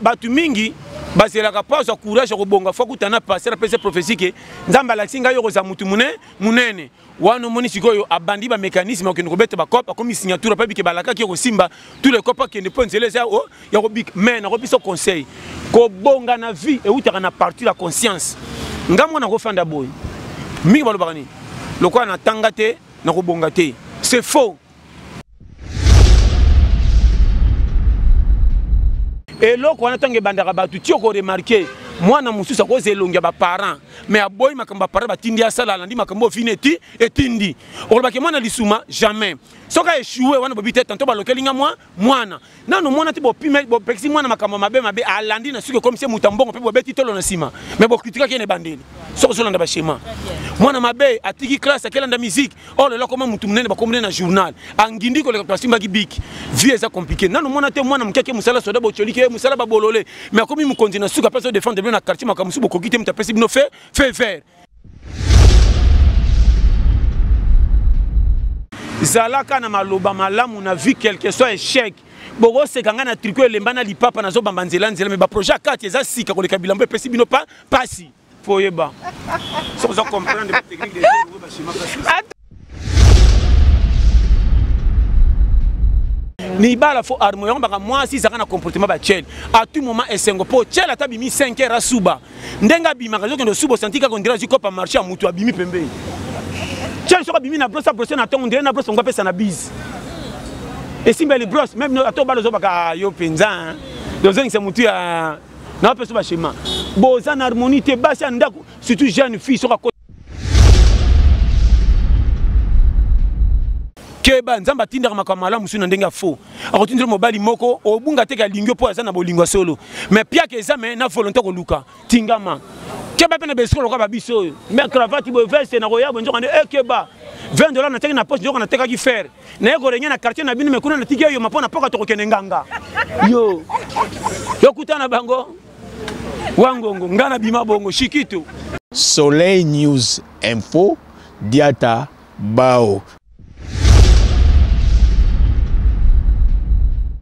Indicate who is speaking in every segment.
Speaker 1: bato mingi bazelaka mpo azwa courage ya kobonga fo akuta na paster apesa prophesie ke nzambe alakisi ngai yo kozala motu mune munene wana omoni sikoyo abandi bamécanisme akende kobeta bacope akomi signature apayebi ke balakaki ekosimba tout le cope akende mpo nzela eza oh, ya kobika mai nakopesa conseil kobonga na vie eutaka na partir ya conscience ngai mwana kofanda boye mingi balobaka nini lokola natanga te nakobonga te c'est faux eloko wana ntango ebandaka bato ti okoremarke mwana mosusu akozela elongi ya baparent mais aboyi makambo baparent batindi asala alandi makambo oyo fini eti etindi okolobake mwana lisuma jamais soki aeshue wana bobi te tanto balokeli nga mwa mwana nano mwana te bopime bopekisi mwana makambo mabe mabe alandi na suki ekomisi moto ya mbongo mpe bobeti tolo na nsima me bokritikaki ye na ebandeli soki ozolanda bashema mwana mabe atiki classe akelanda musike oyo oh, lelo akoma motu monene bakomone na journal angindi koleka to asimbaki biki vie eza compliqué nano mwana te mwana moke ake mosala soda bocoliki ye mosala babolole me akomi mokonzi na suka mpe azodefendre bino na quartier makambo mosusu bokoki te moto apesi bino fe fe vert zalaka na maloba malamu na vie quelque soit échec bokoseka ngai na triko elemba na lipapa nazobamba nzela nzela me baprojet ya kati eza sika koleka bilambo epesi bino pa pasi foyeba soki oza comprendre technique des libala fo arme yango baka mwasi ezalaka na comportement batiele à tout moment esengo mpo tiele ata abimi 5 heure asuba ndenge abimaka ezokende osuba osanti kaka ondire azwi kopa marché ya motu abimi pembeni tiele soki abimi na brosse abrose na ntongo ondire na brosse yango apesa na bise esimbeli brosse meme ata obala ozobaka ah, yo mpenza ozongisa motu ya na bapesa bashema boza na harmonie te basi ya ndako surtout jeune fille soki keba nzambe atindaka makambo malamu mosusu na ndenge ya faux akotindela mobali moko obunga teke alingi yo mpo aza na bolingo ya solo mais piaka eza me na volonté koluka tingama keba mpe na besiko lokola babiso oyo me cravate boye veste nakoya boye nzoka nde ekeba eh, 20 dollars nateki na poche nzoka natekaki fer naye korenge na quartier na bino mekuna natiki eyoma mpo na poka tokokende nganga yo yokutana bango wangongo nga na bima bongo shikito soleil
Speaker 2: news info diata bao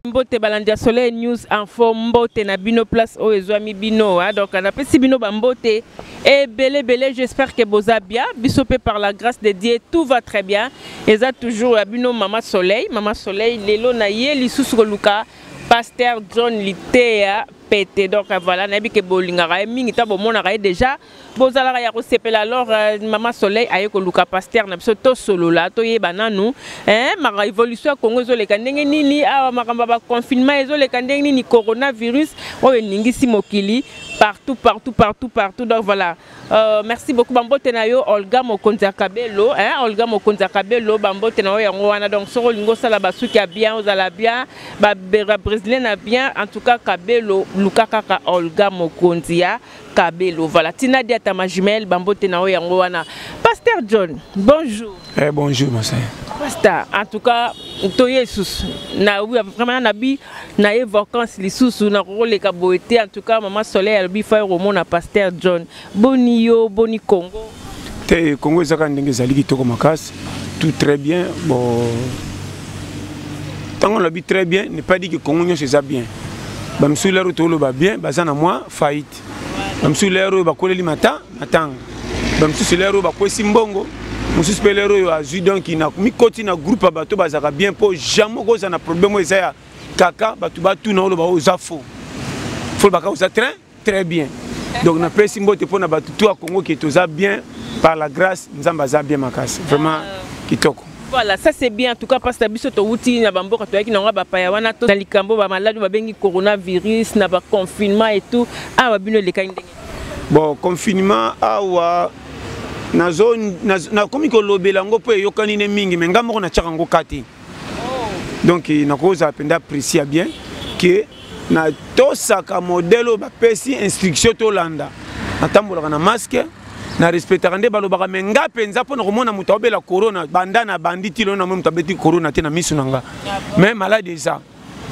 Speaker 3: mbote balandi ya soleil news info mbote na bino place oyo ezwami bino hein? donc napesi bino bambote ebele ebele j'espère que boza bien biso mpe par la grâce de dieu tout va très bien eza toujours ya bino mama soleil mama soleil lelo na ye lisusu koluka pasteur john liteya pete donc euh, voilà nayebi ke bolingaka ye mingi ntango bomonaka ye déjà bozalaka ya kosepela alors euh, mama soleil aye koluka pasteur na biso tosolola toyeba nanu eh, maka évolution ya congo ezoleka ndenge nini awa makambo ya baconfinement ezoleka ndenge nini coronavirus oyo eningisi mokili partout partout partout partout donc voilà Euh, merci beaucoup bambote na yo olga mokonzi ya kabelo hein? olga mokonzi ya kabelo bambote na yo yango wana donc soki olingi osala basuki ya bien ozala bien babrésilien na bien en tout cas kabelo luka kaka olga mokonzi ya kabelo voilà tina diata majimel bambote na yo yango wana pasteur john bonjour eh, bonjour monsieur
Speaker 1: pasta en tout
Speaker 3: cas toye lisusu na vraiment nabi na ye vacance lisusu nakoleka boye te en tout cas mama soleil alobi fai komona pasteur john boni yo boni congo te congo
Speaker 1: ezaka ndenge ezali kitoko makasi tout très bien bon ntango nalobi très bien ne pas dit que congo nyonso eza bien bamisusu lero toloba bien baza na mwa faillite bamosusu lere oyo bakoleli mata matanga bamosusu lere oyo bakwesi mbongo mosusu mpe lere oyo azwi donk mikoti na groupe ya bato bazalaka bien mpo jamai okozala na problème oyo eza ya kaka bato batuna oloba oyo oza faux fo baka oza très très bien donc napesi mbote mpo na bato to ya congo ke toza bien par la grâce nzambe aza bien makasi vraiment ah. kitoko Voilà, ça c'est
Speaker 3: bien. En tout cas, parce que biso to wuti na bamboka to yaki na ngaba paya wana to na likambo ba malade ba bengi coronavirus na ba confinement et tout. Ah, ba bino le kande. Bon,
Speaker 1: confinement awa nazo na komi ko lobela ngo po yokani ne mingi mais ngamoko na tchaka ngo kati. Oh. Donc na koza penda apprécier bien que na tosaka modele oyo bapesi instruction tolanda natambolaka na maske na respectaka nde balobaka me nga mpenza mpo na komona moto aobela corona banda na bandi ti lelo namoi moto abeti corona te na miso na nga me maladi eza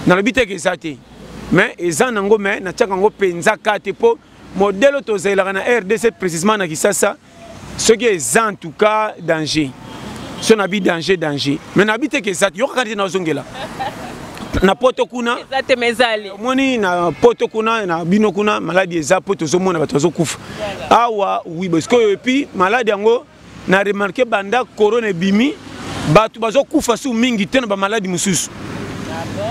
Speaker 1: nalobi teke eza te me eza nango me natiaka yango mpenza ka te mpo modele tozalelaka na rdc précisement na kisasa soki eza en tout cas danger so na bi danger danger mais na bi te ke eza te yokaka te nazongela na poto kuna
Speaker 3: omoni na poto
Speaker 1: kuna na bino kuna maladi eza mpo tozomona bato bazokufa awa wi sikoyo epuis maladi yango na remarke banda corona ebimi bato bazokufa su mingi te na bamaladi mosusu ah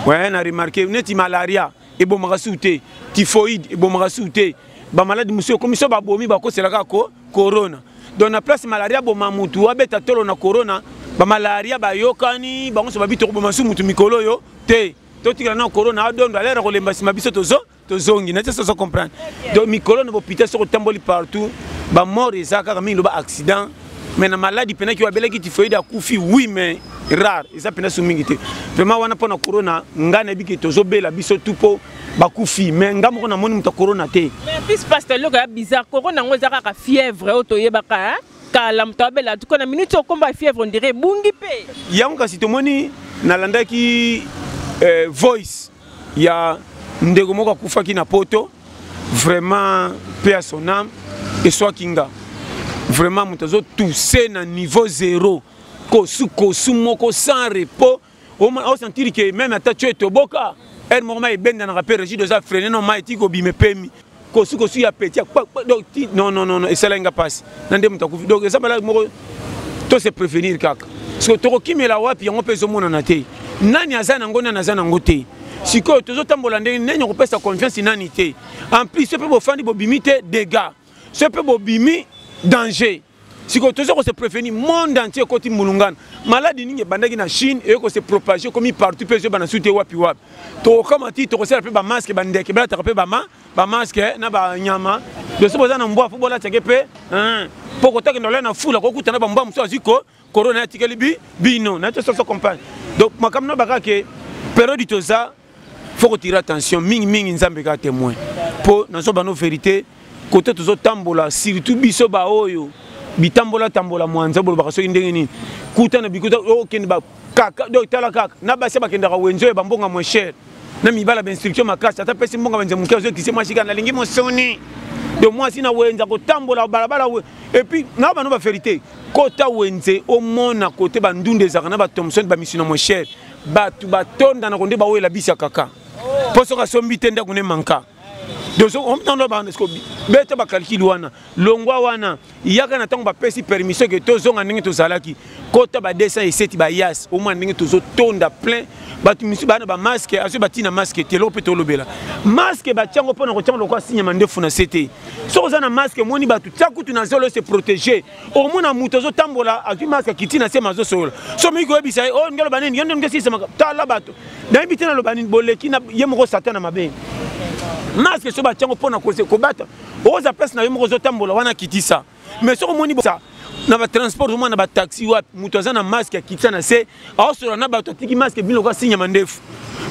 Speaker 1: we na remarke neti malaria ebomaka suku te typhoïde ebomaka suku te bamaladi mosusu ekomi so babomi bakosela kaka ko corona donc na place malaria aboma motu abeta tolo na corona bamalaria bayokani bango nyonso babi tokoboma su motu mikolo oyo te totikala na corona adondo alere kolemba nsima biso tozo tozongi na te sozo comprendre donc mikolo na bopita soki otamboli partout bamort eza kaka mingi loba accident mais na maladi mpena ki oyo abelaki tifoide akufi oui mais rare eza mpena so mingi te vraiment wana mpo na corona ngai nayebi ke tozobela biso tu mpo bakufi mais ngai moko namoni moto ya corona te plus paster eloko
Speaker 3: ya bizarre corona yango eza kaka fièvre oyo toyebaka kala moto abela tuko na minute okomba fièvre ondire ebungi mpe yango kasi tomoni
Speaker 1: nalandaki euh, voice ya ndeko moko akufaki na poto vraiment pe à son âme eswaki nga vraiment moto azotuse na niveau zero kosu kosu moko sans repos osentire ke meme ata tio etoboka ere moko mai ebendanaka mpe regide oza frene no mai tiki kobima epemi kosu kosu ya petit ya donc non non non esalaki nga mpasi na nde moto akufi donc eza maladi moko to se prévenir kaka siko tokokimela wapi yango mpe ezomonana te nani aza nango nani aza nango te sikoyo tozotambola ndenge nani akopesa confiance nani te en plus soki mpe bofandi bobimi te dégât soki mpe bobimi danger sikoyo toza kose prévenir monde entier ekoti mbulungana maladi nini ebandaki na chine eye kose propage ekomi partout mpe ezobana su te wapi wapi tokokama ti tokosala mpe bamaske bandeke balataka mpe bamaske eh, na banyama doso boza na mbwa fo bolatake mpe mpo eh, kotakenda olai na fula kokutana bambwa mosusu azwi ko korona atikeli bino naye tososo compagne donc makambo na bakake periode toza faut kotire attention mingi mingi nzambe kaka témoin mpo nazo bano verité kote tozotambola surtout biso baoyo bitambola tambola mwanza bolobaka soki ndenge nini kuta na bikuta okende oh, bakaka do tala kaka na basi bakendaka wenzo ya bambonga moins cher na mibala bainstruction makasi ata pesi mbonga banze moke azokise mwasi kaka nalingi mosoni do mwasi na wenze akotambola balabala epuis na bano baverité kota wenze omona kote bandunda ezalaka na bathomson bamisina moins cher bato batonda na konde bawela bisi ya kaka mpo soki asombi te ndako ne manka beta bakalkile wana longwa wana yaka na ntango bapesi permission ke tozonga ndenge tozalaki kota ba 200 eseti bayas omwa ndenge tozotonda plein bato misusu bana bamaske azwi batii na maske te eloko mpe tolobela maske batyango mpo na kotyanga lokola sinyama ndefu na se te soki oza na maske omoni bato tya kutu na zolo se protege omona moto azotambola azwi maske akiti na sema azosolola so moki koyebisa ye o oh, ndenge aloba nini yo nde ngesisema tala bato nayebi te naloba nini boleki na ye moko satana mabe maske so batya yango mpo na kobata oza place na yo moko ozotambola wana kitisa mais soki omoni bosa na batransport omona na bataxi wapi moto aza na maske akitisa na se aosolola na bato atiki maske bino lokola sinyama ndefu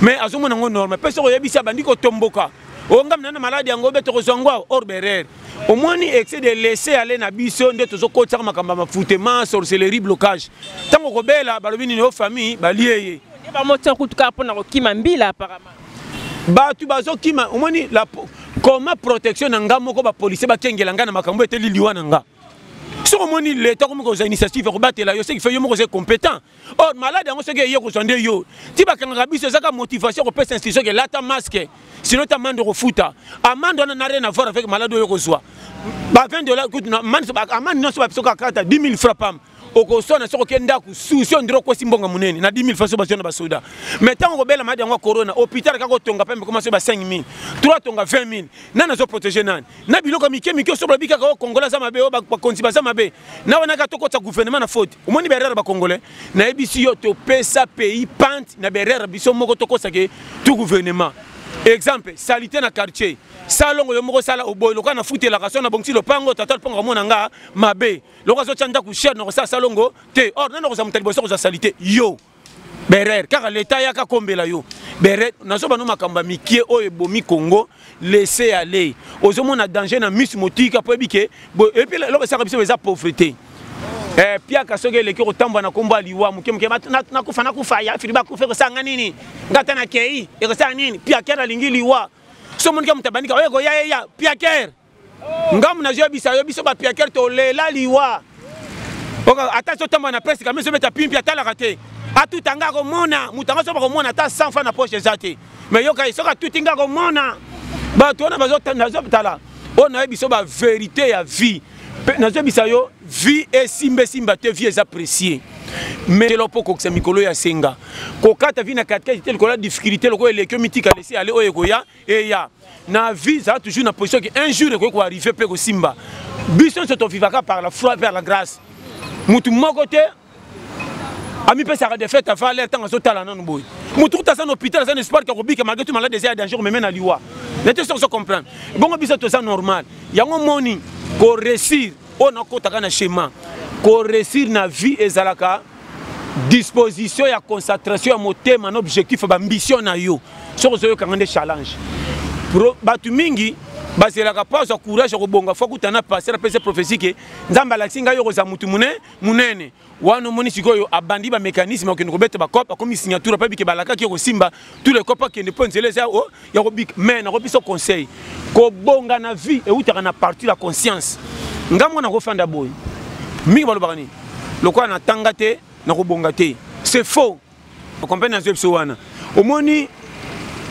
Speaker 1: mais azomona yango normal mpe soki oyebisi abandi kotomboka oyo ngambi na na maladi yango be tokozwa yango awa or berer omoni excès de laisser aller na biso nde tozokotisaka makambo ya mafutema sorcellerie blocage ntango okobela balobi nini o famille balie ye bamotia kutu
Speaker 3: kaka mpo na kokima mbila apparemment bato
Speaker 1: bazokima omoni koma protection na ngai moko bapolisie bakengela ngai na makambo eteli liwa na ngai soki omoni leta okomi kozwa initiative ya kobatela yo ce qui fait yo moko oza compétent or malade yango soki eye kozwa nde yo ti bakangaka biso ezaka motivation kopesa institution ke lata masque sino ta amande okofuta amande wana na rien avoir avec malade oyo okozwa ba 20 dollars kutu amande nyonso babiso kaka kata 10 000 francs pam okoswana soki oke ndako susi ondire okwesi mbongo monene na 10 000 francs bazwa na basoda mais ntango okobela maladi yango ya corona hôpital kaka otonga pambe koma soki ba 5 000 3 tonga 20 000 nani azoprotege nani na biloko ya mike mike osobola bikaka oyo kongola aza mabe oyo bakonzi baza mabe na wana kaka tokotisa gouvernement na faute omoni baerreur bakongolais nayebisi yo topesa pays pante na baerreur biso moko tokosa ke tu gouvernement exemple salite na quartier salongo yo moko sala oboyi lokola na futelaka so na bongisi lopango tata lopango kamona nga mabe lokola azotya ndako sher na kosala salongo te or nani okozala moto ya liboso kozwa salite yo berer kaka leta ayaka kombela yo berer nazoba no makambo ya mikie oyo ebomi congo laisse aller ozomona danger na misu motika mpo ebike epi eloko esaka biso eza pauvreté Eh, piaka soki eleki kotambwa na kombo ya liwa moke moke nakufa nakufa ya filiba akufa ekosanga nini nga ata na kei ekosanga nini piakere alingi liwa so omonike moto abandika oyo ekoya eya piakere ngamu nazoyebisa yo biso bapiakere tolela liwa ata sotambola na presse kami ezobeta pimpi atalaka te atuta nga akomona moto yango soki bakomona ata 100 fa na poche eza te mai yokai soki atuti nga akomona bato wana nazotala oyo nayebi biso baverité ya vie nazoyebisa yo vie esimba esimba te vie eza précieux melo mpo okokisa mikolo ya senga kokata vi na katikati te lokola difficulté lokola elekio mitika lesi ale oyo ekoya eya na vie zala toujours na position ke un jour ekoki koarrive mpe kosimba biso nyonso tovivaka par la foi par la grâce motu moko te amipesaka defete afa lere ntango azotala nanu boye motu kuta aza na hôpital aza na espoir ke akobika malgre tu malade eza ya danger omeme na liwa na te soki ozocomprendre bongo biso toza normal yango moni koreussir oyo nakotaka na chemin koreussir na vie ezalaka disposition ya concentration ya motema na objectif ya bambition na yo soki ozoyokanga nde challenge bato mingi bazelaka mpo azwa courage ya kobonga fo akuta na paster apesa prophesie ke nzambe alakisi ngai yo kozala motu monene wana omoni sikoyo abandi bamécanisme akende kobeta bacope akomi signature apayebi ke balakaki yo kosimba tous les copa kende mpo nzela eza oh, ya kobika mais nako biso conseil kobonga na vie eutaka na parti la conscience nga mwana kofanda boye mingi balobaka nini lokola natanga te nakobonga te c'est faux okomprene nazwi biso wana omoni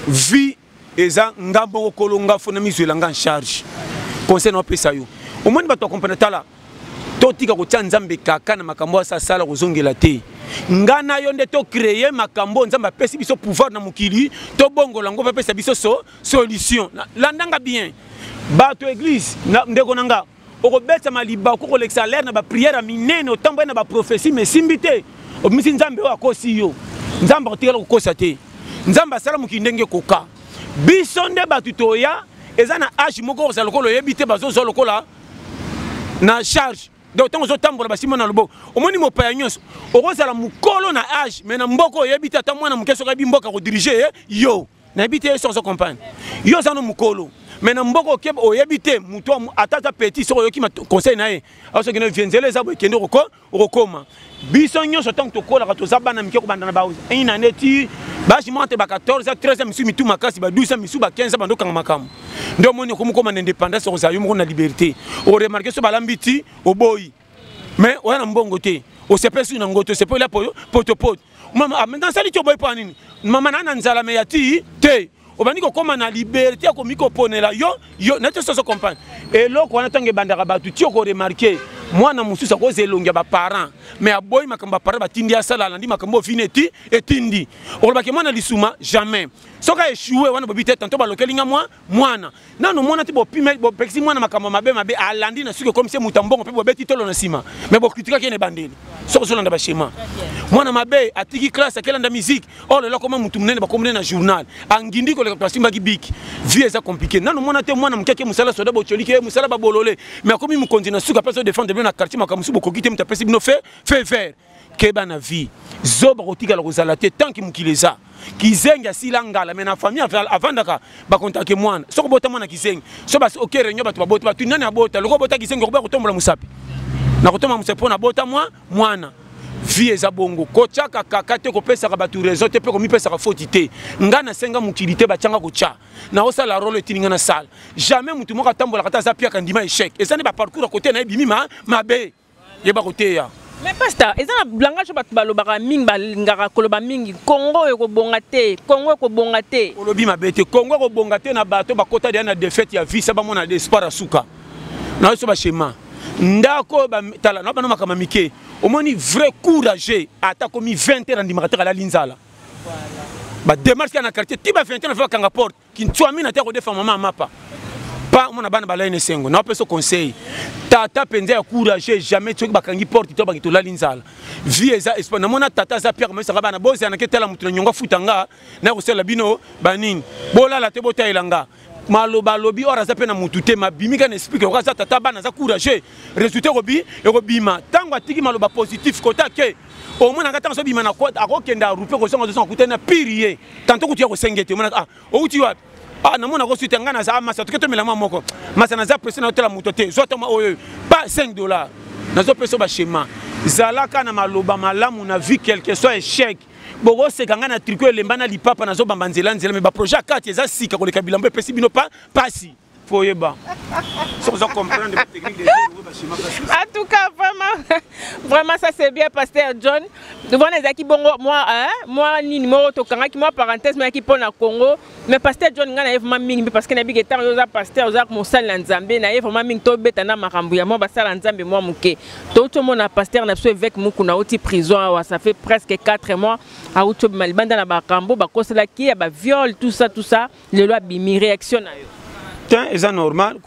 Speaker 1: vie eza nga moko kolonga fo na mizwela nga en charge conseil naopesa yo omoni bato akomprene tala totika kotia nzambe kaka na makambo asa asala kozongela te nga na yo nde tocreye makambo oyo nzambe apesi biso pouvoir na mokili tobongola yango bapesa biso so solution landanga bien bato eglise ndeko na nga okobetama libaku kolekisa lere na bapriere ya minene otamboli na baprofesi ma esimbi te obimisi nzambe oyo akosi yo nzambe akotikala kokosa te nzambe asala mokili ndenge ekoka biso nde bato toya eza na age moko kozala lokola oyebi te bazozwa lokola na charge donc ntango ozotambola basimba na loboko omoni mopaya nyonso okozala mokolo na age mais na mboka oyebi te ata mwana moke soki ayebi mboka kodirige ye yo nayebi te ye soki ozo comprendre yo oza no mokolo mais na mboka oke oyebi te moto ata aza petit soki oyoki conseil na ye asoki na vie nzela eza boye kende koko okokoma biso nyonso ntango tokolaka toza bana mike kobanda na baina nde ti basi mwa te ba 14 a 13 misusu mitu makasi ba 12 misusu ba 15 bando okanga makambo nde omoni okomi koma na indépendance okozala yo moko na liberté oremarke so balambi ti oboyi mais oya na mbongo te osepesi na ngoto osepeli ya potopoto mama ah, nasali ti oboyi mpo ya nini mama naa na nzala me ya ti te obandi kokóma na liberté ya komikoponela yo yo neti osi ozo comprendre eloko wana ntango ebandaka bato ti okoremarke mwana mosusu akozwa elongi ya baparent mais aboyi makambo baparent batindi asala alandi makambo ofini eti etindi olobaki mwana lisuma jamais soki aeshue wana bobi te tanto balokeli nga mwa mwana nano mwana te bopekisi mwana makambo mabe mabe alandi na suki ekomisi moto ya mbongo mpe bobeti tolo na nsima me bokritikaki ye na ebandeli soki ozolanda bashema mwana mabe atiki classe akelanda miziki oyo oh, lelo akoma motu monene bakomone na journal angindi koleka to asimbaki biki vie eza komplike nano mwana te mwana moke ake mosala soda bocoliki ye eh, mosala babolole me akomi mokonzi na suki apesi odefendre bino na quartier makambo mosusu bokoki te moto apesi bino fe fe vert keba na vie zoba kotikala kozala te tanki mokili eza kizengi asila ngala me na famille avandaka bakontake mwana soki obota mwana kizengi so basi oke reunion bato baboti bato nani abota lokola obota kizengi okoba kotombola mosapi na kotombola mosapi mpo nabota mwa mwana vie eza bongo kotyaka kaka te kopesaka bato raison te mpe komipesaka foti te ngai nasenga mokili te batyanga kotya naosala role etini ngai nasala jamais motu moko atambolaka te aza piaka ndima echec eza nde baparcours ya kote na ye bimi mabe yeba koteya mais pasta eza na
Speaker 3: langage oyo bato balobaka mingi balingaka koloba mingi kongo oyo ekobonga te kongo ekobonga te olobi mabe te kongo ekobonga te na bato bakota deya na defete ya visa bamona de espoir ya suka na biso bashema ndako oyo batala na bana makambo mike omoni vrai courage ata komi 20 heure andimaka te alali nzala bademarche ya na quartier ti ba 20 heure bakanga porte kintswamina te akodefa mama ya mapa pa omona bana balali na esengo na opeso conseil tata mpenza ya courage jamais soki bakangi porte to bangi tolali nzala vie eza espoir namona tata aza pierre komesaka bana bozana ke tala moto na nyongo afuta nga na kosalela bino banini bolala te botalela nga maloba alobi or aza mpe na mutu te mabimi kaka na esprit ke oka aza tata bana aza courageux résultat ekobi ekobima ntango atiki maloba positif kota ke omonaka ntango azobima na kota akokenda rupe kozonga zozonga kutani na pire ye tanto kutu ya kosenge te omonaka ah, outi wapi ah, namona kosuta ngai naza masa toke tomela mwa moko masa naza presse na otala moto te zwa toma oyo pa 5 dollar nazopesa bashema zalaka na maloba malamu na vie quelque soit échec bokoseka ngai na triko elemba na lipapa nazobamba nzela nzela me baprojet ya kati eza sika koleka bilambo epesi bino pa pasi mpo
Speaker 1: oyeba soki oza comprendre technique des oyo bachimaka en tout
Speaker 3: cas vraiment vraiment ça c'est bien pasteur john wana ezalaki bongo mwa mwa nini moko tokangaki mwa parenthèse moyaki mpo na congo mais pasteur john ngai naye vraiment mingi mpe parce que nayebiki ntango yo oza pasteur oza mosali na nzambe naye vraiment mingi tobeta na makambo ya mwa basala nzambe mwa moke touti omona pasteur na biso évêque mokuna auti prison awa ça fait presque 4 mois auti obima libanda na bakambo bakoselaki ye ya baviole tout ça tout ça lelo abimi réaction na yo tin eza normal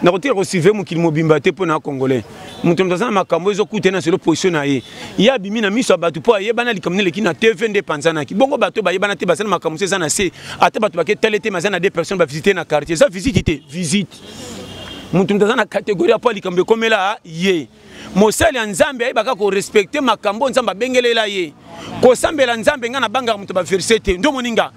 Speaker 1: nakotika kosuive mokili mobimba te mpo na congolais moto moto aza na makambo ezokute na selo position na ye ye abimi na miso ya bato mpo ayebana likambo nde eleki na tv nde epanzanaki bongo bato bayebana te baza na makambo mosusu eza na se ata bato baketale te maza na de personne bavisite na quartier eza visite te visite moto moto aza na kategorie mpo likambo ekomela ye mosali ya nzambe ayebaka korespecte makambo oyo nzambe abengelela ye kosambela nzambe ngai nabangaka moto baverse te nde omoni nga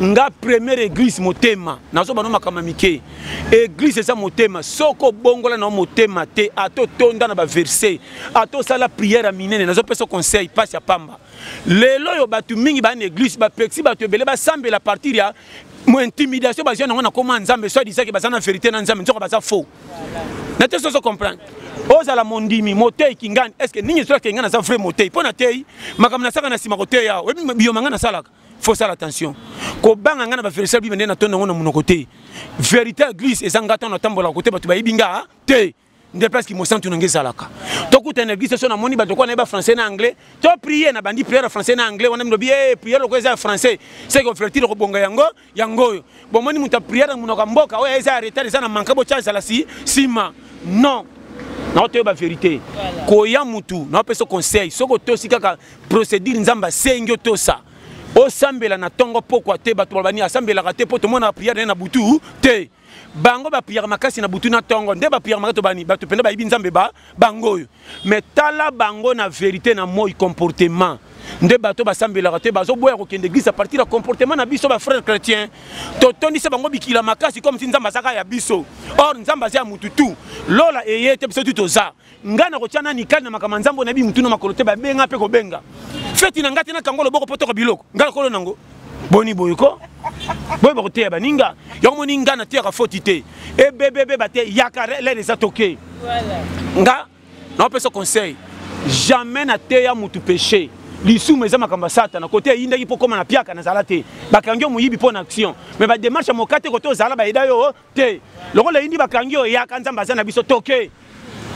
Speaker 1: nga première église motema nazo bano makama mike église eza motema soko obongola na motema te ato tonda na baverse ato sala prière ya minene nazo pesa conseil mpasi ya pamba lelo oyo bato mingi baa na église bapekisi bato ebele basambela partir ya intimidation bazwi yango na koma nzambe so adisaki baza na verité na nzambe nzoka baza faux na te soso comprendre ozala mondimi moteyi kingani estce nini ezoyaka ngai naza vrai moteyi mpo na teyi makambo nasaka na nsima koteya oyebi biyoma ngai nasalaka faut faire attention kobanga ngai na baverisa bible nde natonda yango na monoko te verité ya glise eza ngai ntango natambolaka kote bato bayebi nga ah, te nde place kimosantu na ngai ezalaka tokutana na eglise so namoni bato kwana yeba français na anglais to prier nabandi priere ya français na anglais wana milobi e eh, priere loko eza ya français seke oflirtile kobonga yango yango oyo bomoni moto ya priere na monoko ya mboka oyo eza ya retard eza na manka botya ezala si nsima non nao toyeba verité koya mutu nao pesa conseil soki otosi kaka procédure nzambe asengi otosa osambela na ntongo pokwa te bato balobani asambelaka te mpo tomonaka priere naye na butu te bango bapiyaka makasi na butu na ntongo nde bapiyaka makasi tobani bato mpenza bayebi nzambe ba bango oyo me tala bango na verité na moi comportement nde bato basambelaka te bazoboya kokende eglise apartir ya comportement na biso bafrère chrétien totondisa bango bikila makasi comme si nzambe azaka ya biso or nzambe aza ya mutu tu lola eye te biso tu toza nga nakotya nani kani na makambo ya nzambe oyo nayebi motu na makolo te babenga mpe kobenga feti na ngai te nakango loboko mpo toka biloko ngai nakolo nango boni boye ko boye bakoteya baninga yango moni ngai nateyaka foti te ebebebe bate yaka lere eza toke nga naopesa conseil jamais nateya motu péché lisumu eza makambo ya satana kote eyindaki mpo koma na piaka nazala te bakangi yo moyibi mpo na action mais badémarche ya moka te kote ozala bayeda yo te lokola eyindi bakangi yo eyaka nzambe aza na biso toke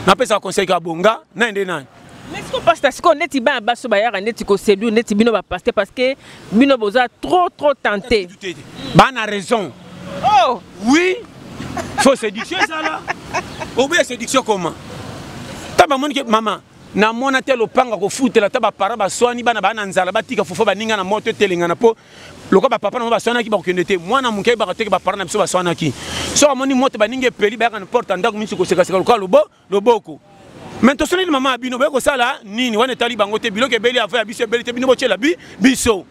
Speaker 1: napesaka conseil ka bonga naye nde nani siko pasta sikoyo
Speaker 3: neti bana baso bayaka neti koseduire neti bino bapaster parce que bino boza trop trop tenté bana
Speaker 1: raison oh. oui faut séduction ezala oboya séduction comment ta bamoni ke mama na mona te lopanga kofutela ata bapara baswani bana baa na nzala batika fufa baninga na moto etelengana mpo lokola bapapa na bango baswanaki bakokende te mwana moke ayebaka teke bapara na biso baswanaki soki amoni moto baninga epeli bayaka na porte ya ndako minsi kosekaseka lokola lobo loboko me tosoneli mama ya bino boye kosala nini wana etali bango te biloko ebeli avo ya biso ebeli te bino botyela bi biso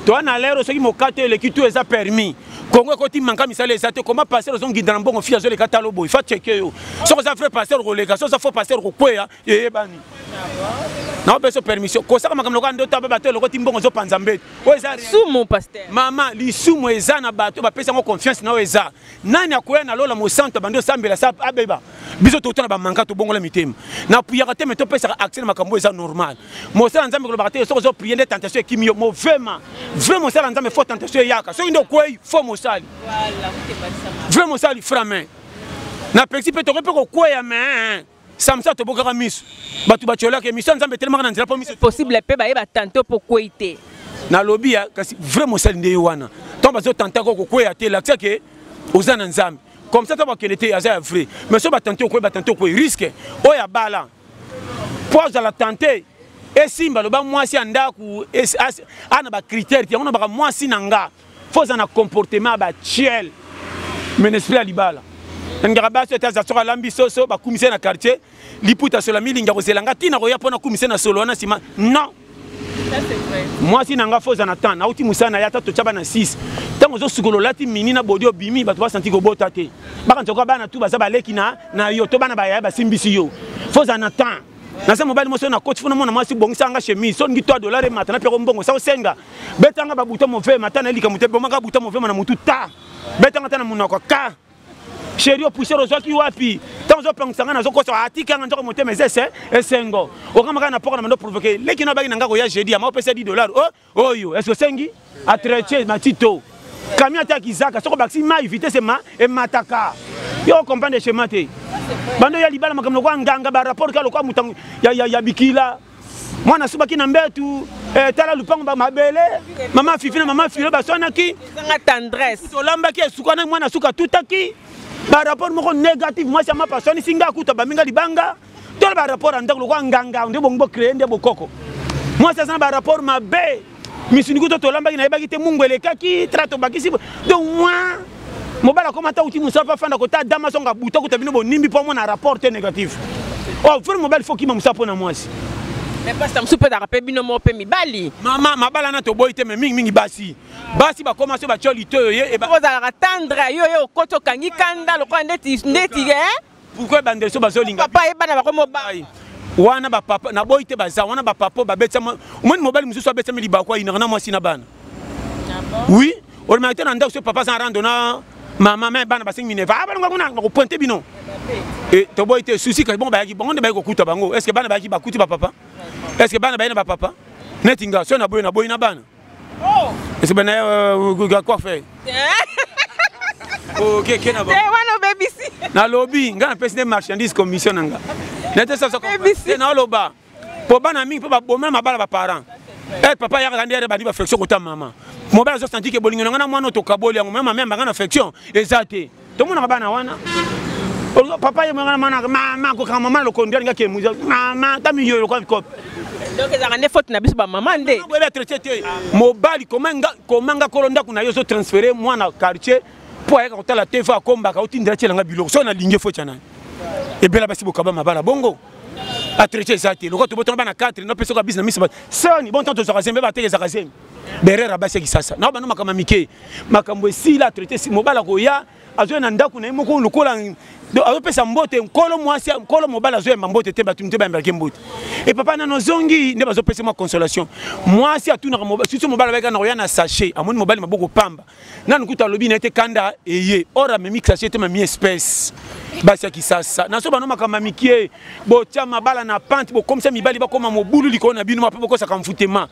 Speaker 1: toi na lero soki mokato eleki tu eza permis kongo ekoti manka misala eza te koma pasteur ozongida na mbongo fi azoleka talo boye fa cheke yo soki oza vrai pasteur okoleka soki oza faux pasteur okokweya eyebani naopeso permission kosaka makambo lokola ndoto aba bato elokoti mbongo ozopanza mbeto oyo eza sumu pasteur
Speaker 3: mama lisumu
Speaker 1: eza na bato bapesi yango confiance na oyo eza nani akoya na lola mosantu abandi osambela sa abeba biso tokotana bamanka tobongola mitema na puyaka te me topesaka accès na makambo eza normal mosala nzambe kolobaka te soki ozo priye nde tentation ekimi yo movema vrai mosala nzambe fo tentation eyaka soki nde okwei fo mosali vrai mosali frame na pexi mpe tokoki mpe kokweya me samsa tobokaka miso bato batyolaka emission ya nzambe etelemaka na nzela mpo miso possible mpe bayeba tanto
Speaker 3: mpo kwei te nalobi ya
Speaker 1: kasi vrai mosali nde ye wana ntango bazotantaka okokweya te lakisa ke oza na nzambe comme ça ntango bakende te aza ya vrai mais so batante okwei batante okwei riske oyo abala mpo azala tante esimba loba mwasi ya ndako ana bacritère te yango nabaka mwasi na nga faut ozala na comportement ya batiele mais na esprit ya libala nalingaka basi ete aza soki alambi soso bakumisi ye na quartier liputa sola milingi akozela nga ntina koya mpo nakumisi na solo wana nsima non mwasi na nga fo oza na temps nauti mosala na ye ata totya bana 6 ntango ozosukola olati mini na bodi obimi bato basanti kobota te bakanisa koka bana tu baza baleki na yo to bana bayaya basimbisi yo fo oza na temps naza mobali moso na koti funa mwana mwasi bongisa nga chemise so ngi 3 dollars emata na pia kombongo sa osenga betanga babuta move mata na likambo te bomaka buta move na mutu ta betanga ta na munoko ka sheri opuisere ozwaki wapi ntango ozopangisa ngai nazokosa atika nga nzoko motema eza ese esengo okamaka na poko na mando provoke leki na obaki na ngai koya jeudi yama opesa 10 dollar o oh, oyo eske osengi atretie matito camion ata kizaka soko bakisi mai vitesse ema emataka yo comprendre chemin te bando ya libala makambo lokola nganga barapport kaka lokola moto ya, ya, ya bikila mwana asubaki na mbetu eh, tala lupango bamabele mama fifi na mama filo baswanaki
Speaker 3: tolambaki esukanaki
Speaker 1: mwana suka tutaki barapport moko négative mwasi ya mapa aswanisi nga kuta baminga libanga tole ba rapport ya ndako lokola nganga nde bongo bocreye nde bokoko mwasi aza na ba rapport mabe misuni kuto tolambaki nayebaki te mungu elekaki tra tobakisi donc mwa mobali akoma ata uti mosala mpe afanda kota dama songa buta kuta bino bonimbi mpo amona rapport te négatif o oh, fere mobali fo kima mosala mpo na mwasi pasta
Speaker 3: mosusu mpe ezalaka mpe bino moko mpe mibali mama mabala na
Speaker 1: toboyi te me mingimingi basi basi bakoma so batyo litoyo ye ozalaka tendre yo
Speaker 3: ye okoti okangi kanda lokola ndeti ndeti pourquoi
Speaker 1: ebandeli so bazolinga papa ye bana bakomi obai
Speaker 3: wana bapapa
Speaker 1: naboyi te baza wana bapapa oyo babetama omoni mobali mosusu abetami libaku ayinaka na mwasi na bana ah oui olobaki te na ndako so papa aza na rando na mama me bana basengi mineva ah, balonga kuna bakopointe bino eh, toboyi te susi kasi bongo bayaki bongo nde bayaki kokuta bango est ce que bana bayaki bakuti bapapa est ce que bana baye na bapapa neti nga so naboyi naboyi na bana Oh. Est-ce que bana euh, quoi fait? Ok, ok, na ba. Eh, wana obebisi.
Speaker 3: Na lobi, nga na
Speaker 1: pesi nde marchandise commission na nga. Na te sasa ko. Obebisi. Na loba. Po bana mingi po ba boma mabala ba parents. Eh papa yaka kandi yare bandi ba flexion kota mama. Mobala zo santi ke bolingo na nga na mwana otokaboli yango mama meme banga na flexion ezate. tomonaka bana wana papa ye mwana mwana mama kokanga mama lokondo alinga ke muza mama ta miyo lokola bikope donc ezalaka nde
Speaker 3: faute na biso bamama nde boyebi atraite te
Speaker 1: mobali komanga kolo ndako na yo ozotransfere mwana quartier mpo ayaka kotala te fo akombaka otindela tyelanga biloko soki nalingi efo tya nani ebela basi bokaba mabala bongo atraite eza te lokola tobotanga bana 4 nopesoka bisi na miso soni bontan tozwaka zembe bateke ezaka zembe berera basi ya kisasa na bana makambo ya mike makambo esila atraite mobali akoya azwa na ndako na ye moko lokola azopesa mbote nkolo mwasi nkolo mobali azoyamba mbote te bato mite bayambelaki mbote e papa nano ozongi nde bazopesa mwa consolation mwasi atunaka susu mobali abayaka na koya na sachet amoni mobali maboko pamba nanu kuta alobi na ye te kanda eye or amemi sachet te mami espèce basi ya kisasa na so bano makambo ya mikie botya mabala na pante bokomisa mibali bakoma mobulu likolo na bino mape bokosaka mfutema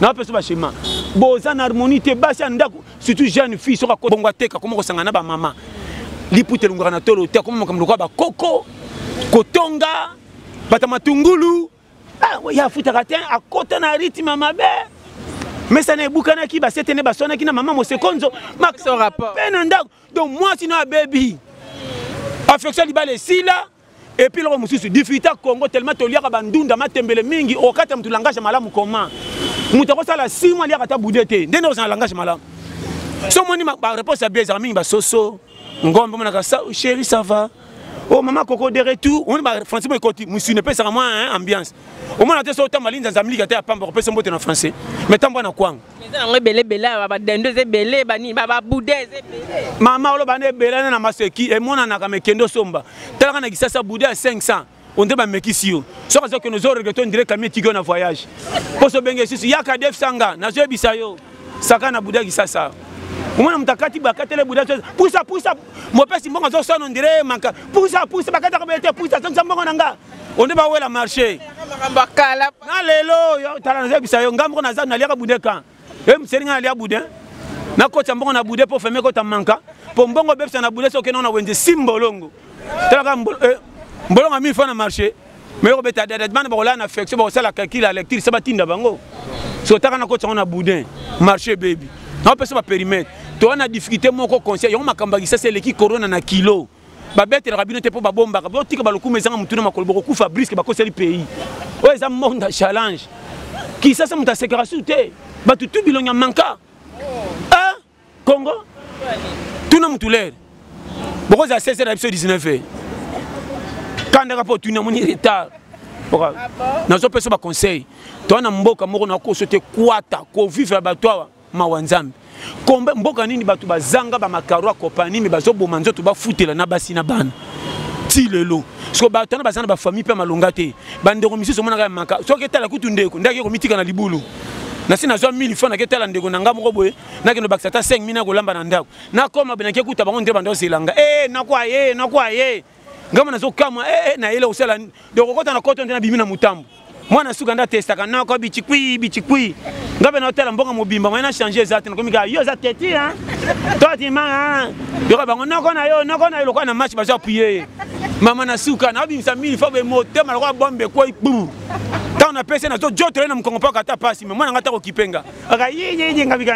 Speaker 1: na peso ba schéma boza na harmonie te basi ya ndako surtout jeune fille soka ko bongo ateka koma kosanga na ba mama liputa elongaka na tolo te akoma makambo lokola bakoko kotonga bata matungulu ah, ye afutaka te akota na ritme mabe mesana ebukanaki basete nde baswanaki na mama mosekonzo mpe na ndako
Speaker 3: donc
Speaker 1: mwasi no abebi affection libala esila Et puis eloko mosusu difficulté ya congo tellement toliaka bandunda matembele mingi okata motu langage malamu comment moto akosala 6 mois aliaka ata bude te nde nde ozala langage malamu so omoni bareponse ya bia ezalaka mingi basoso ngombe omonaka chéri ça va o oh, mama koko de retour omoni bafrançais mo ekoti mosuni epesaka mwa ambiance omona te so otamba linzanza miliki ata ya pamba kopesa mbote na français mais tambwa na kwanga eza nango ebele ebele
Speaker 3: awa badendo eza ebele banini babuda eza ebele mama oloba nde ebele
Speaker 1: nde na maseki emonanaka mekende osomba talaka na kisasa buda ya 500 onde bamekisi yo soki aza kende ozoregrete ondire kami etiki yo na voyage mposo obenge lisusu yaka defsanga nazoyebisa yo saka na buda kisasa omona moto akati bakatele buda pusa pusa mopesi mbongo azosana ondire manka pusa pusa bakataka boye te pusa azongisa mbongo na nga onde bawela marché
Speaker 3: na lelo
Speaker 1: tala nazebisa yo ngai moko naza naliaka bude kan e moseli ngai nalia bude nakotisa mbongo na bude mpo feme ekota manka mpo mbongo obebisa na bude soki nona wenze si mbolongo talaka eh, mbolongo mille fois na marché me yo kobeta dada bana bakolala na affection bakosala calcul ya lecture se batinda bango so otaka nakotisa yango na boudin marché bebi naopesa baperimetre towana difficulté moko conscient yango makambo ya kisasa eleki corona na kilo babetelaka bino te mpo babombaka botika balokuma ezanga motuna makolo bokokufa briske bakoseli pays oyo eza monde ya challenge kisasa moto asekaka su te bato tu bilongi ya manka a congo tuna motu lere bokozala 16 na biso 19 e kandaka mpo otuni amoni retard ah nazopesa baconseil toa na mboka moko nakoso te kwata kovivre ya bato awa mawa nzambe kombe mboka nini bato bazanga bamakaro ya kopani me bazoboma nzoto bafutela na basi na bana ti lelo soko bato wana baza na bafamille mpe malonga te bandeko misusu omonaka ya maka soki etala kutu ndeko ndaki ekomitika na libulu nasi nazwa 1000 franc nake tala ndeko na ngai moko boye nake nobakisa ata 5000 nakolamba na ndako nakoma boye nake kuta bango nde banda ozelanga e eh, nakwa ye eh, nakwa ye ngambo nazokamwa ee eh, eh, na yele kosala donc okota na koto nde nabimi na motambo mwana suka nde atestaka noko bichikui bichikui nga mpe naotala mboka mobimba moye na change eza te nakomi kaka yo eza teti a totimanga yoka bango noko na yo noko na yo lokola na match bazo apuye ye mama na suka naobimisa mili fo be motema lokola bombe ekwei bum ntango napesi nazojotole na mokongo mpo akata mpasi me mwana nga ta kokipe nga aka yiyiyinga bika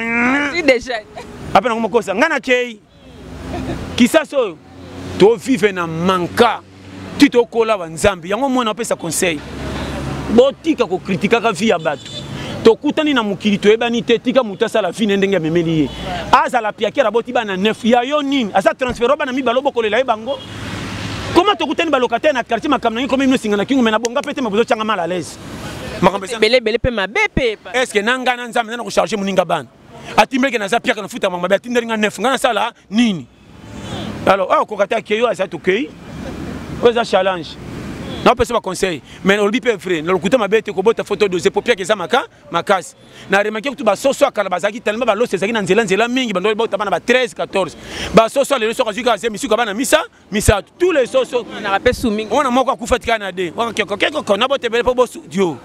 Speaker 3: ape nango mokosa
Speaker 1: nga nakei kisasa oyo tovive na manka ti tokola banzambe yango mwana apesa conseil botika kokritikaka vi ya bato tokutani na mokili toyebani te tika moto asala vi ne ndenge amemeli ye azala piakere aboti bana nef ya yo nini aza transfero bana mibale obokolela ye bango koma tokutani balokataire na quartier makambo nangi komi minosinga na kingo me na bonga mpe te ma bozotyanga mal à l'aise makambo ebele ebele mpe mabe
Speaker 3: mpe estce na ngai na
Speaker 1: nzambe nana kocharge moninga bana atimbeleke naza piaka nafuta mamabe atindeli nga 9 nga nasala nini alors awa koka te akei oyo aza tokei oyo eza challenge napesa baconseil mais olobi mpe vrai na lokuta mabe te kobota foto dose po piaka eza maka makasi na remake kutu basoso ya kala bazalaki talima balosi ezalaki na nzela nzela mingi bandoi bautama na ba 13 14 basoso ya lelo soki azwi kaka zemi suka bana misa misato tous les soso na pe sumi wana
Speaker 3: moko akufa tika na
Speaker 1: de wana keko keko na bote bele po bo studio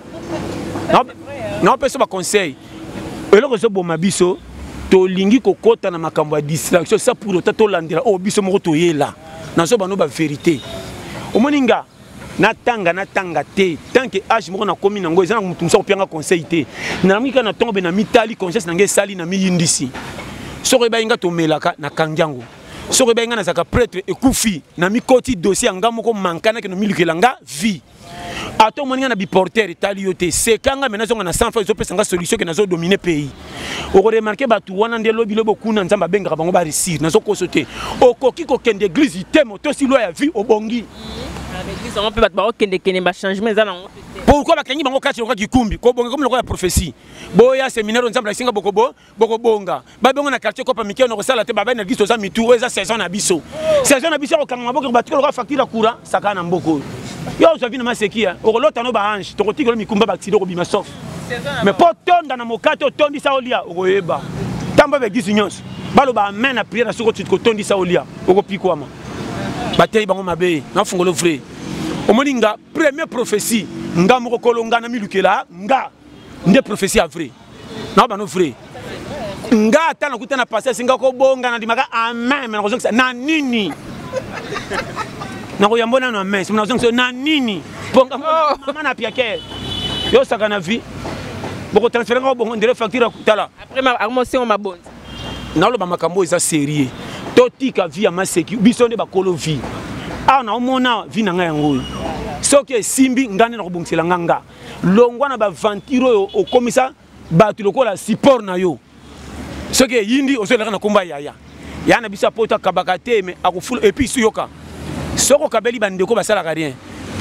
Speaker 1: na pe so ba conseil eloko zo boma biso tolingi kokota na makambo ya distraction sa pour autant tolandela oyo oh, biso moko toyela nazo bano ba verité omoni nga natanga natanga te tant que age moko nakomi nango eza na motu mosusu akopianga conseil te nalamki kaka na ntongo mpe na mitali conscience na ngai esali na miyindisi soki ebayi nga tomelaka nakangi yango soki ebai ngai nazalaka pretre ekufi na mikoti dossier ya ngai moko mankanaki nomilukela nga vie ata omoni ngai na biporter etali yo te seka ngai me nazonga na sans fa ezopesa ngai solution ke nazodomine pays okoremarke bato wana nde lobi lobi okuna nzambe abengaka bango baresir nazokoso te okoki kokende eglize te motosi lwa ya vie obongi
Speaker 3: pourkui bakangi bango
Speaker 1: kati lokola kikumbi kobonga komi lokola prophesie boya seminaire nzambe lakisinga bokobo bokobonga babongo na quartier kopa mike nokosala te babali na biso toza mitu oyo eza saison na biso saison na biso ya kokanga maboko batika lokola facture ya courant sakana na mboka oyo yo ozwa vino maseki ya okolota no baange tokotikelo mikumba baksida okobima sof mais mpo otonda na mokate otondisa olia okoyeba ntango babegisi nyonso baloba amen na priere na soki otuti kotondisa olia okopikwama bateyi bango mabe nafungolo vrai omoni nga premier prophetie nga moko kolonga na milukela nga nde prophetie ya vrai na bano vrai nga ata nakuta na pasi asinga kobonga nandimaka amen me nakozongisa na nini nakoyambo nano amen sima nazongisa na nini bonga oh. mama na piake yosaka na vie bokotransfere nga kobongo ndele facture akutala amosengo
Speaker 3: mabonzi naloba
Speaker 1: makambo oyo eza serie totika vie ya maseki biso nde bakolo vie awa naomona vie na ngai yango oyo soki esimbi ngai nde nakobongisela nga nga longwa na baventure oyo okomisa bato lokola support na yo soki eyindi ozolaka na komba yaya ya na biso ya poto akabaka te me akofula epuis yoka soki okabeli bandeko basalaka rien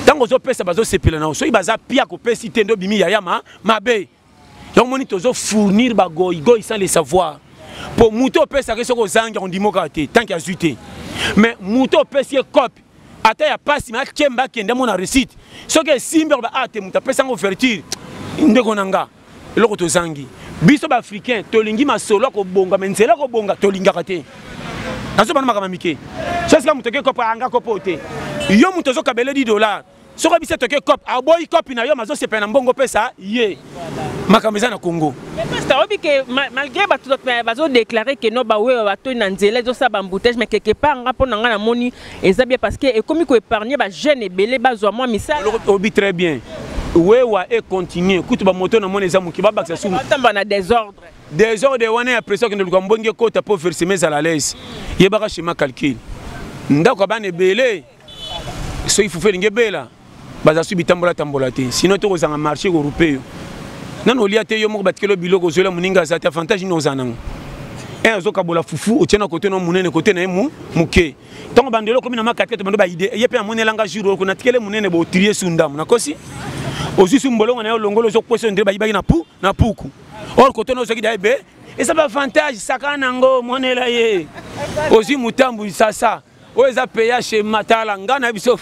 Speaker 1: ntango ozopesa bazosepela na yo soki baza pia kopesi te nde obimi yaya ma mabe yango moni tozofournir bagoigoi sans le savoir mpo moto opesaka ye soki ozangi akondimokaka te tanke azwi te mais moto opesi ye cope ata ya pasi mais akemba akende amona réussite soki esimbi akoba ah te moto apesa yango ouverture ndeko na nga eloko tozangi biso baafricain tolingi masolo ya kobonga me nzela ya kobonga tolingaka te nazobana makambo mike sosika moto oke kopo anga kopo te yo moto ozokabeledi dollar soki obisi etoke cop aboyi kopi na yo mazosepela na mbongo opesa ye makambo eza na congo pasta oyebi ke
Speaker 3: malgré bato bazodeklare ke no bawewa batoi na nzela ezosala bamboutage mais quelque part nga mpo na ngai namoni eza bien parce que ekomi koépargne bajeune ebele bazwa mwa misala oyebi très bien
Speaker 1: wewa econtinue kutu bamoto na moni
Speaker 3: eza
Speaker 1: moke babakisa subatamba na désordre désordre wana ya pression kende luka mbongi ekota mpo verseme ezala lese yebaka chema calcule ndako ya bana ebele soki fufu elingi ebela baza su bitambola tambola te sinon to kozanga marché korupe yo nano olia te yo moko batikelo biloko ozoyela moninga aza te avantage nini oza nango e eh, azokabola fufu otie na kote no monene kote na ye moke ntango bandelo okomi na makatete bando baide ye mpe amonelanga jour oko natikele monene botrie su ndambo nakosi ozwi su mbolongo na yo longola ozokwesa ondire bayibaki na pu na puku or kote no ozwaki da ebe eza bavantage sakana nango monela ye ozwi motambu sasa oyo eza ph matala nga na biso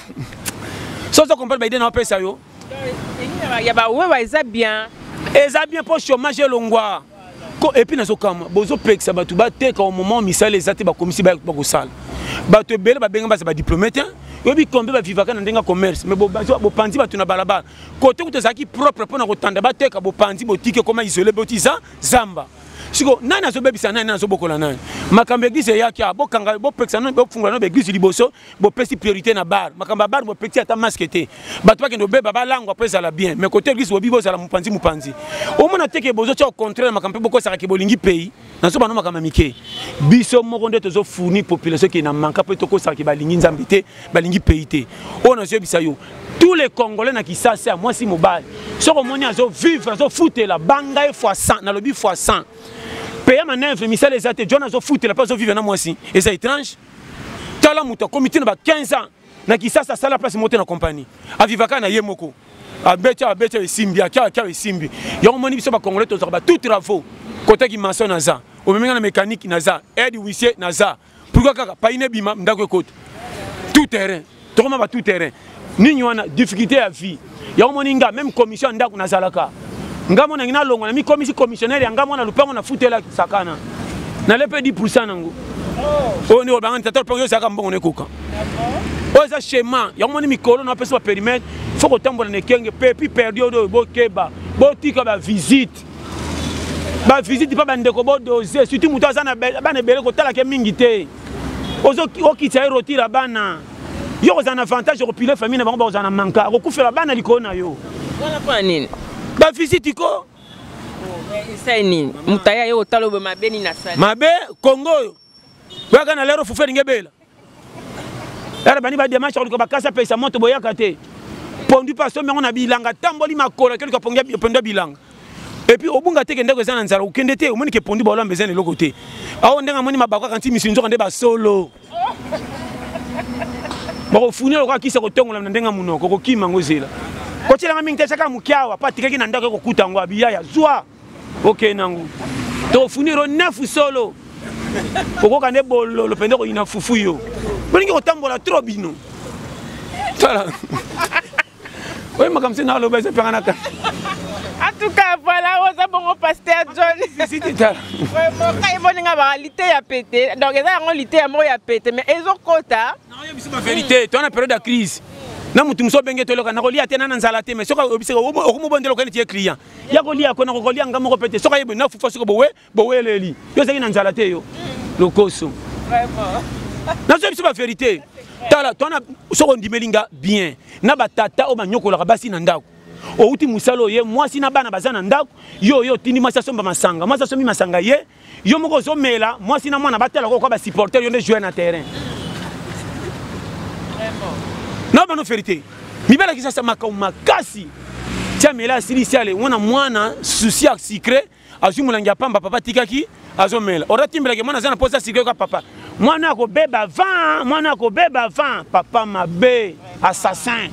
Speaker 1: so ozo comprendre baide na opesa yo ya
Speaker 3: bawewa eza bien eza bien mpo
Speaker 1: chômage elongwa epuis nazokama bozopekisa bato bateka au moment misala eza te bakomisi bakosala bato ebele babenga baza badiplome te oyebi kombe bavivaka na ndenge ya commerce mais bopanzi bato na balabala kote kutu ezalaki propre mpo na kotanda bateka bopanzi botiki ekoma isole boti za zamba siko nani azobebisa nani nani azobokola nani makambo eglise eyaki awa bokanga bopekisa no bofungola no baeglise liboso bopesi priorité na bar makambo ya bar bopekisi ata maske te bato bakende obeba balangwa mpo ezala bien mais kote eglise bobi bozala mopanzi mopanzi omona te ke bozotya ocontraire makambo mpe bokosaka ke bolingi pays nazobana makambo ya mike biso moko nde tozofournir population ke na manka mpe tokosaka ke balingi nzambe te balingi pays te oyo nazoyebisa yo tous les congolais na kisasi ya mwasi mobali soki omoni azovivre azofutela banga ye fois 100 nalobi fois 100 peya manevre misala eza te john azofutela mpe azovivre na mwasi eza étrange tala moto akomi ntina ba 15 ans na kisasi asala place mote na compagnie avivaka na ye moko abeti abeti esimbi akia akia esimbi yango omoni biso bacongolais tozwaka ba tout travaux kotaki maçon naza omemi nga na mécanique naza aide huissier naza pourquoi kaka paine ebima ndako ekota tout terrain tokoma ba tout terrain nini wana difficulté ya vie yango moni nga même commission ya ndako nazalaka nga monangi nalongwa namikomisi commissionnaire ya nga mwana lopango nafutela sakana nalepe 10 pourcent nango oyo nde olobanga tata lopango yozalaka mbongo nekoka oyo eza chema yango moni mikolo napesa baperimetre fo kotambola na ekenge pepi perdi oyo bokeba botika bavisite bavisite mpe bandeko bodose surtout moto aza na bana ebele kotalake mingi te okitisa ye rotira bana yo kozala na avantage okopile famille na bango bakozala na manka akokufela bana likolo na yo wana mpo na nini
Speaker 3: bavisite ko
Speaker 1: oh, esai
Speaker 3: nini moto aya ye kotala obe mabe nini asali mabe kongo oyo
Speaker 1: oyaka na lero fufu elingi ebela yala bani bademache koluka bakasa pesa moto boyaka te pondu mpe asombi yango na bilanga atamboli makolo akeluka pondu ya bilanga epuis obunga te ke ndako eza na nzala okende te omoni ke pondu baolamba eza na eloko te ao ndenge amoni mabako kaka nti misi nzoka nde basolo bakofunela okoka kisa kotongolama na ndenge ya monoko okokima yango zela kotyelanga mingi te tyaka moke awa mpo atikaki na ndako ekokuta yango abiya ya zwa okei nango tofuniro nefu solo okoka nde bololo mpenza koyina fufu yo bolingi kotambola tro bino tala oyo makambo se naloba eza mpenga naka en tout
Speaker 3: cas voilà oza bongo pasteur john
Speaker 1: kai
Speaker 3: boninga baka lite ya pete donc eza yango lite ya moko ya pete mais ezokota verité
Speaker 1: toana période ya crise na motu mosusu obenge toloka nakolia te na na nzala te mais soki oyebisaka okomobondela okende tiye client ya kolia kona kokolia nga moko pete soki ayebe na fufa soki bowe boweleli yo ozalaki na nzala te yo lokoso
Speaker 3: nazoya biso
Speaker 1: baverité tala twana soki ondimeli nga bien na batata oyo banyokolaka basi na ndako outi mosala oye mwasi na bana baza na ndako yo oyo otindi mwasi asomba masanga mwasi asombi masanga ye yo moko ozomela mwasi na mwana batala kokoka basupporter yo nde joueur na terrain
Speaker 3: na bano verité
Speaker 1: mibali ya kisasa makambo makasi ti amela asilisi ale wana mwana susi ya sucre azwi molangi ya pamba papa atikaki azomela oratimbelaki mwana aza na mposa sucre yoka papa mwana akobeba van mwana akobeba van papa mabe assassin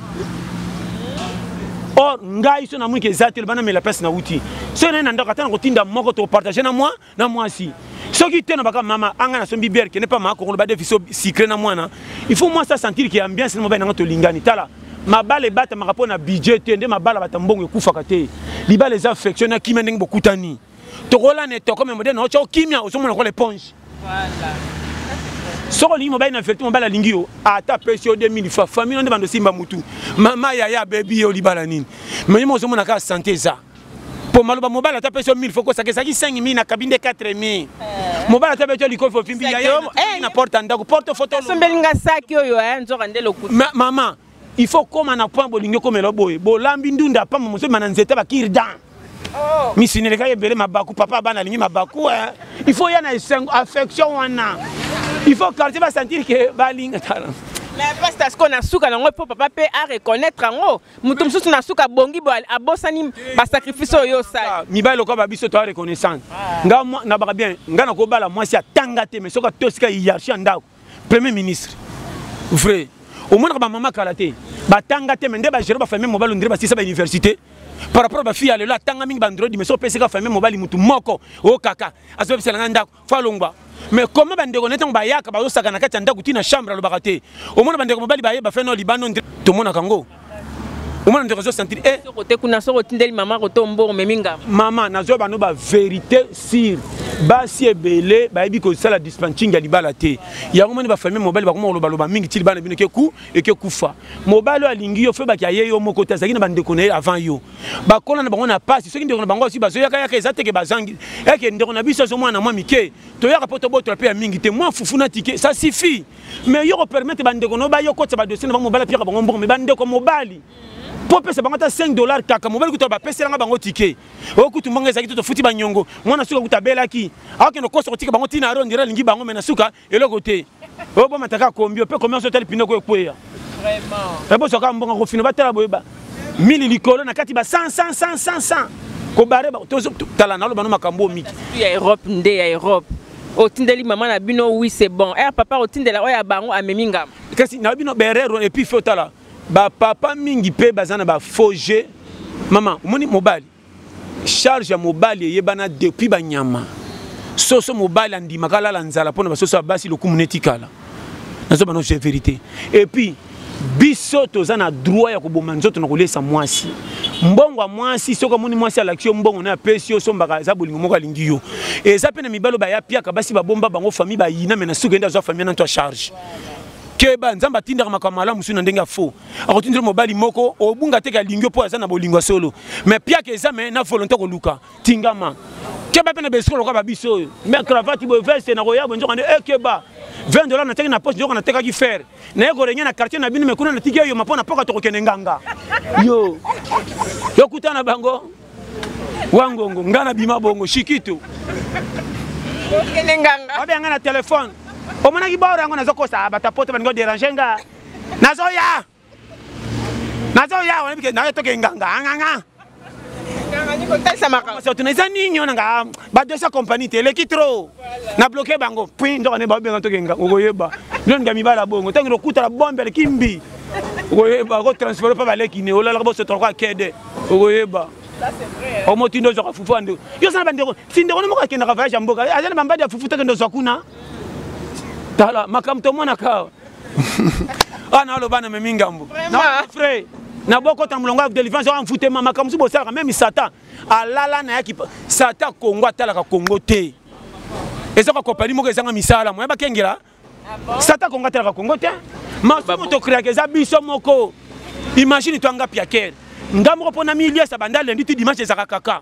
Speaker 1: or ngai so namoni ke eza te loba namela place nauti soki nai na ndako ata na kotinda moko topartage na mwa na mwasi soki te na baka mama anga na sombi biere kende mpa makokolo badefiso sucre na mwana il faut mwasi asentir ke ambiance na mobali nanga tolingani tala mabala ebatamaka mpo na budget te nde mabala bata mbongo ekufaka te libala eza affection na kimia ndenge bokutani tokola ne toko me moderne ocha okimia ozomona kola eponge soki olingi mobali na vertu mobali alingi yo ata apesi yo 2000 fa famille no nde bando simba mutu mama yaya abebi yo libala nini meyima ozomona kaka sante eza mpo maloba mobali ata apesi yo 1000 fo kosaka ezalaki 5000 na kabinde 4000 eh. mobali ata beti yo likofi ofimbi yaya eh, na porte ya ndako porte fotosombeli nga saki
Speaker 3: oyo eh, nzoka nde lokuta mama
Speaker 1: il faut koma na point bolingi okomela boye bolambi ndunda apamba mozobima na nzete bakirdan oh. misuni elekaki ebele mabaku papa bana alingi mabaku eh. il faut ya na esengo affection wana il faut quartier basentir ke balinga tala mais pasta
Speaker 3: sikoyo na suka nango mpo papa mpe areconnaitre yango moto mosusu na suka abongi bo abosani basacrifice oyo osali ah, mibali lokola babiso toa
Speaker 1: reconnaissance ah. nga nabaka bien nga nakobala mwasi atanga te mais soki atosika hierarchie ya ndako premier ministre vrai omonaka bamama kala te batanga te me nde bagere bafamille mobali ondire basisa bauniversité par rapport bafille ya lelo atanga mingi bandroid mais so opesaka famille mobali motu moko o kaka azobebisela ngai ndako fo alongwa mais comment bandeko na ntango bayaka bazosaka na kati ya ndako ti na chambre alobaka te omona bandeko mobali baye bafe nao libanda ondire tomonaka yango omona ndeko azosentir e eh. kuna soki
Speaker 3: otindeli mama koto mbongo memi ngama mama nazwa bano
Speaker 1: baverité sire basi ebele bayebi kosala dispatching ya libala te yango moni bafamille mobali bakoma kolobaloba mingi ti libala bino ekeku ekekufa mobali oyo alingi yo febaki aye yo moko te azalaki na bandeko na ye avant yo bakola na bango na pasi soki ndeko na bango asi bazoyakayaka eza teke bazangi eke ndeko na biso azomwana mwa mike toyaka mpo tobotola mpe ya mingi te mwa fufu na tike sa sifi mais yo ko permettre ba ndeko no ba yo kotsa ba dossier na bango mobali piaka bango mbongo mais ba ndeko mobali mpo opesa bango ata 5 dollar kaka mobali kutu bapeselanga bango tike oyo kutu mbongo ezalaki to tofuti banyongo mwana suka kutu abelaki akokende kosa kotika bango ntina aro ndira alingi bango me na suka eloko te oyo bomataka kombi mpe komi oso otali pinoko ekweya eboswaka mbongo kofina batala boyeba mili likolo na kati ba 100 100 100 100 kobare tala naloba no makambo oyo miki ya europe nde ya
Speaker 3: europe otindeli mama na bino oui c'est bon er papa otindela oyo ya bango amemi ngama kasi na bino
Speaker 1: berero et puis faut tala ba papa mingi pe baza na ba faux jeu mama omoni mobali charge ya mobali eyebana depuis banyama soso mobali andimaka alala nzala mpo na basoso ya basi lokumu netikala nazo bana je vérité et puis biso toza na droit ya koboma nzoto na kolesa mwasi mbongo ya mwasi soki amoni mwasi alakisi yo mbongo na apesi yo osombaka eza bolingo moko alingi yo eza mpe na mibali oyo bayapiaka basi babomba bango fami bayina me na suki ende azwa fami nanto ya charge keba nzambe atindaka makambo malamu mosusu na ndenge ya faux akotindela mobali moko obunga teke alingi yo mpo aza na bolingo ya solo me piaka eza me na volonté koluka tingama keba mpe na besiko lokola babiso oyo me cravate boye veste nakoya boye nzoka nde ekeba eh, 20 dollars nateki na poche nzoka natekaki fere naye korenge na quartier na bino mekuna natiki yo mapona mpoka tokokende nganga yo yokuta na bango wangongo ngai nabima bongo shikito
Speaker 3: babe ngai na telefone
Speaker 1: omonaki baoro yango nazokosa batapoto baningo derange nga nazoya nazo ya wana bike nayo toke nganga nganga
Speaker 3: tuna eza nini wana nga
Speaker 1: badesa compagnie te eleki trop na bloke bango pui nzoka nde babenga toke nganga okoyeba bino nga mibala bongo ntango lokutala bombe aleki mbi okoyeba okotransfere mpe baleki ne olalaka bosotoka kede okoyeba
Speaker 3: omotindo ozwaka fufu ya
Speaker 1: ndeko yo oza na bandeko si ndeko no moko akendaka voyage ya mboka aza na bambadi ya fufu tokende ozwa kuna tala makambo tomonaka awa naaloba na memi ngambo frai na bokota molongo ya delivrance oyo amfutema makambo mosusu bosalaka meme satan alala na yaki satan kongo atalaka kongo te eza kwa kopani moko ezanga misala moya bakengela ah satan kongo atalaka kongo te masumu tokreaka eza biso moko imagine to anga piakere nga moko mpo na miliesa banda lendi ti dimanche ezaka kaka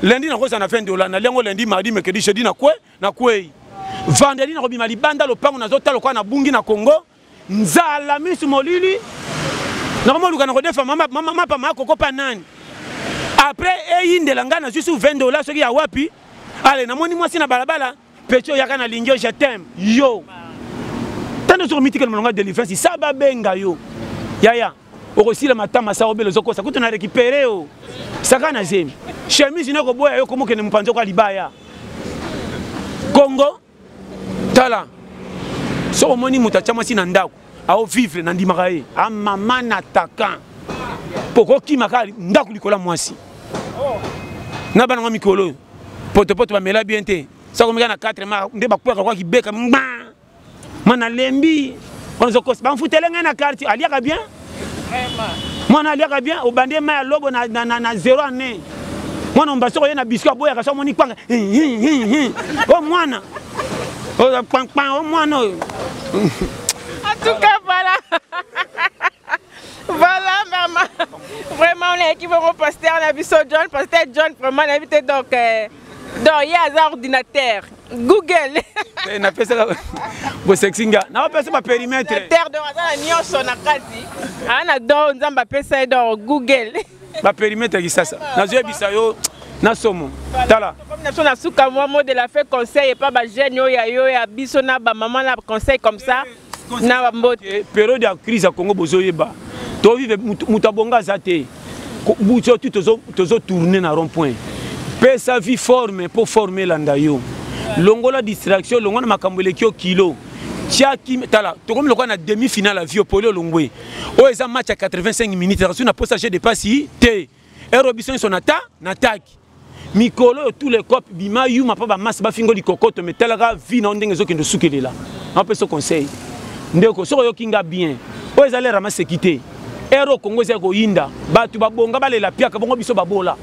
Speaker 1: lendi nakozala na 20 dola na liango lendi mardi mercredi jeudi na kue na kwei vendredi nakobima libanda lopango nazotala lokola nabungi na congo nzala misu molili nakomoluka nakodefa mapa ma kokopa nani apres eyindela ngai nazwi su 20 dola soki ya wapi ale namoni mwasi na balabala peti oyaka na lingio je teme yo tando soki omitikela molonga delivrance sa babenga yo yaya okosila matama sa obele ozokosa kutu na récupéré yo saka na zemi chemise na koboya yo komokende mopanzi oko ya libaya kongo tala soki omoni moto atya mwasi na ndako aovivre na ndimaka ye amama na takan mpo kokima kaka ndako likolo ya mwasi na bana yango mikolo oyo potopoto bamela bien te soki omeka na 4 ma nde bakwaka kwa kibeka mba mwana lembi onzokosi bamfutele ngai na quartier aliaka bien mwana aliaka bien obandi ye mai ya lobo na, na, na, na zero année mwana omba soko ye na biscuit aboyaka so amoni kwanga o oh, mwana oyo oh, kpankpan o oh, mwana oyo
Speaker 3: en tout cas voilà voilà mama vraiment on a équipe mon pasteur na biso John pasteur John vraiment na bité donc euh, donc ye aza ordinateur google eh, napesaka
Speaker 1: bosexi nga napesa baperimetre aza na
Speaker 3: nyonso na kati aa na don
Speaker 1: nzambe
Speaker 3: apesa
Speaker 1: ye don google baperimetre kisasa nazoyebisa
Speaker 3: yo
Speaker 1: na somo tala biso na suka
Speaker 3: mwa mot de la fin conseil epa bajeune oyo ya yo ya biso na bamama na conseil comme ça na bambote periode ya crise ya
Speaker 1: congo bozoyeba tovive moto abonga aza te buto tu tozotourne na rond point pesa vie forme mpo forme elanda yo longola distraction longola na makambo eleki yo kilo tiaki tala tokomi lokola na demi finale ya viopoli olongwe oyo eza match ya 85 minutes asu na posa je depasi te ero biso nyonso na ta na taki mikolo oyo tous les cop bima yuma mpo bamasi bafingo likokoto me talaka vi na yo ndenge ezokende osukelela napesa conseil ndeko soki oyoki nga bien oyo ezali ramaseki te ere okongo ezali koyinda bato babonga balela piaka bongo biso babola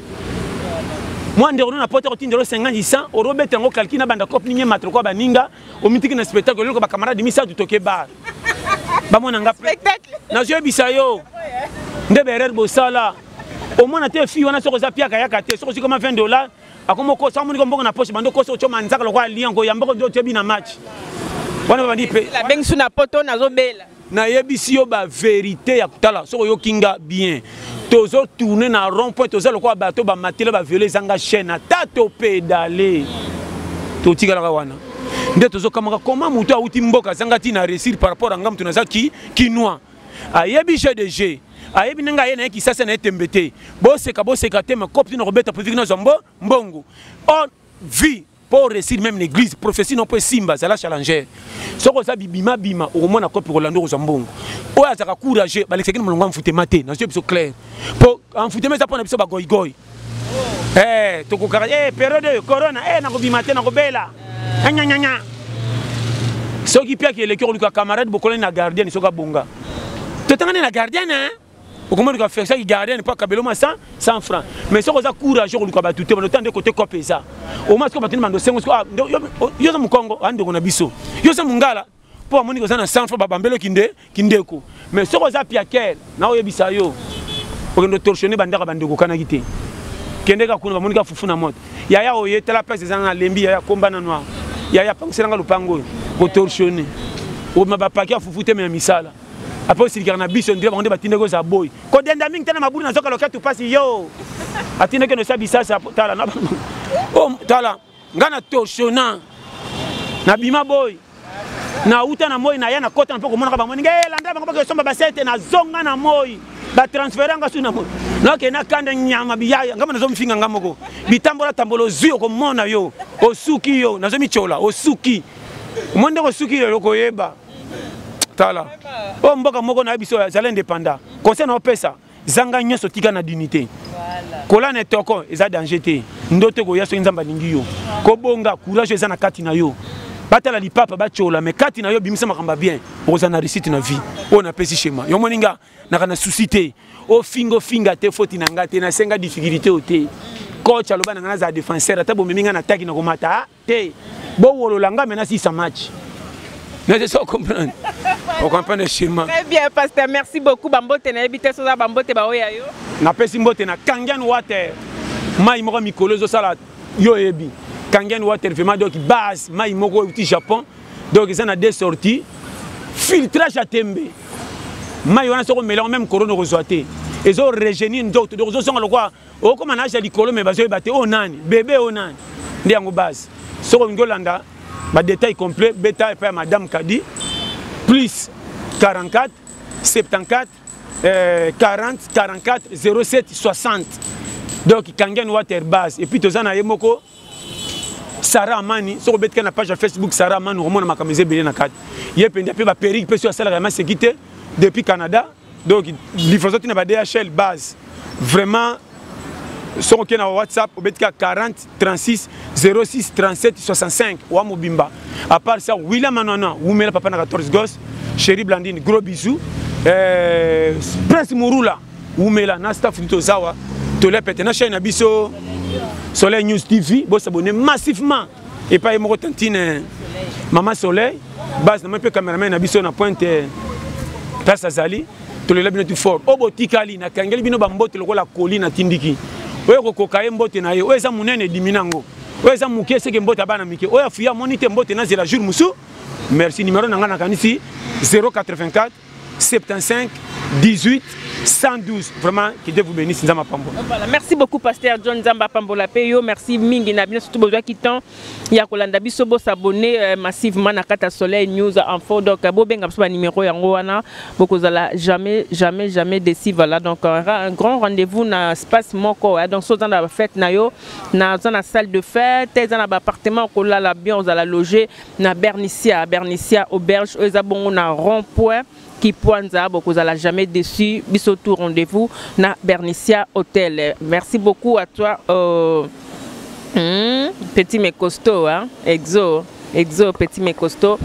Speaker 1: mwa ndeko no na poto kotinda olo 50 100 orobeta yango kalki na banda cope ninye matroko ya baninga omitiki na spectacle eloko bakamarade misato toke bar bamona nga nazwi yebisa yo nde baerreur bosala omona te fille wana soki oza piaka yaka te soki ozwi kama 20 dollar akoma okosa omoni ko mbongo na poche bando okosa otyoma nzaka lokola lion koyamba oko nde otyebi na match wana babandi mpe abengisu na poto
Speaker 3: nazobela nayebisi yo
Speaker 1: baverité ya kotala soki oyoki nga bien tozo tourne na rond point toza lokola bato bamatela baviole ezanga chaîne ata topedale totikalaka wana nde tozokamaka koma moto awuti mboka azanga ntina réussir par rapport anga moto naza ki kinois ayebi jeu de jeu ayebi ndenge aye na ye kisasa na ye tembe te boseka boseka te makopi tina kobeta po viki nazwa mbo mbongo o vie mpo oresir meme na église prophétie no mpo esimba zala challenger soki oza bibimabima okomona kopi kolanda okozwa mbongo oyo azalaka courageux balekisaki na molongo ya mfutema te nazwi biso claire mpo mfutema eza mpo na biso bagoigoi eh tokokaka eh periode oyo corona eh nakobima te nakobela anyanyanya soki piaki eleki okoluka camarade bokolani na gardienne soki abonga totangani na gardienne hein okomoni ka faire ça ki gardienne mpo akabelo ma 100 100 francs mais soki oza courage okoluka bato te bandotan nde kote cope eza omasi ko bato nde bando sengo yo oza mokongo andeko na biso yo oza mongala mpo amoni koza na sanfa babambelo kinde kindeko mais soki oza piaker na oyebisa yo okende otorsione bandako ya bandeko okanaki te kende ka kuna bamoni ka fufu na moto yaya oye tala place eza na lembi yaya komba na noir yaya apangisela nga lopango oyo kotorsione obima bapaki ya fufu te me ya misala apo osilikaka na biso ndire bango nde batindaki oza boy kodenda mingi te na mabulu na zoka loketu mpasi yo atindaki nosa bisasa tala oh, tala nga na torchona na bima boy na uta na moi na ya na kota na mpo komonaka bango ndenge eh, landa bango bakesomba basete na zonga na moi batransfere nga su na moi nakende akanda nyama biyaya ngamba nazomifinga nga moko bitambola tambola ozwi okomona yo osuki yo nazomitshola osuki omoni ndenge osuki yo okoyeba tala oyo mboka moko na ye biso azali independant conseil na opesa zanga nyonso tika na dignité kola na etoko eza danger te ndoto ekoya soki nzambe alingi yo kobonga courage eza na kati na yo batala lipapa batyola me kati na yo bimisa makambo ya bien okozala na réussite na vie oyo napesi shema yo omoni nga naka na souci te ofinga ofinga te foti na nga te nasenga difficulté oyo te coach aloba na nga nazala défenseur ata bomemi nga na taki na komata ah. Te, bo wolola nga mena sisa match. Mais c'est ça, comprendre. On comprend sûrement. Très bien, pasteur. Merci
Speaker 3: beaucoup. Bambote na ebite soza bambote ba oya yo. Na pesi mbote na
Speaker 1: Kangian Water. Mai moko mikolo zo sala yo ebi. Kangian Water vraiment donc base mai moko au Japon. Donc ça na deux sorties. Filtrage à tembe. Mai wana soko mélange même corona ko zoate. Ezo régénir ndoto. Donc zo songa lokwa okoma na age ya likolo me bazoyeba te oyo nani bebe oyo nani nde yango base soki olingi olanda badetail complet beta epai ya madame kadi plus 44 74 euh, 40 44 07 60 donc kangen water base epuis toza na ye moko sara amani soki obetika na page ya facebook sara amani okomona makambo eza ebele na kati ye mpenza mpe baperike mpe soki asalaka ya maseki te depuis canada donc livraison ti na ba dhl base vraiment soki okei na whatsapp obeti ka 40 36 06 37 65 wa mobimba apart ça wila manana wumela papa na 14 gos chéri blandine gros bisou eh, prince murula wumela na staff nito zawa tolia pete na chaine na biso soleil news tv bosabone massivement epai ye moko tantine mama soleil base namoni mpe cameraman na biso na pointe place azali tolela bino tu fort oyo botikali nakangeli bino bambote lokola koli natindiki oyo kokoka ye mbote na ye oyo eza monene edimi na yango oyo eza moke seke mbote ya bana mike oyo afuya amoni te mbote nazela jour mosusu merci numero na ngai nakanisi 084 75 18 112 vraiment que Dieu vous bénisse nzamba pambo voilà merci
Speaker 3: beaucoup pasteur John nzamba pambo la payo merci mingi na bino surtout bozwa ki temps ya kolanda biso bo s'abonner euh, massivement na kata soleil news info donc euh, bo benga biso ba numéro yango wana bokozala jamais jamais jamais déçu voilà donc euh, un grand rendez-vous na espace moko ouais. donc soza na fête na yo na zana salle de fête zana ba appartement kolala bien ozala loger na bernicia bernicia auberge oyo eza bongo na rond point kipwanza bokozala jamais déçu biso tout rendez-vous na bernicia hotel merci beaucoup à toi euh, hmm, petit mais costaud hein? exo exo petit mais costaud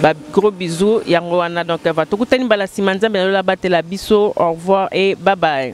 Speaker 3: ba gros bisous yango wana donc va tokutani mbala nsima nzambe na lola batela biso au revoir et bye bye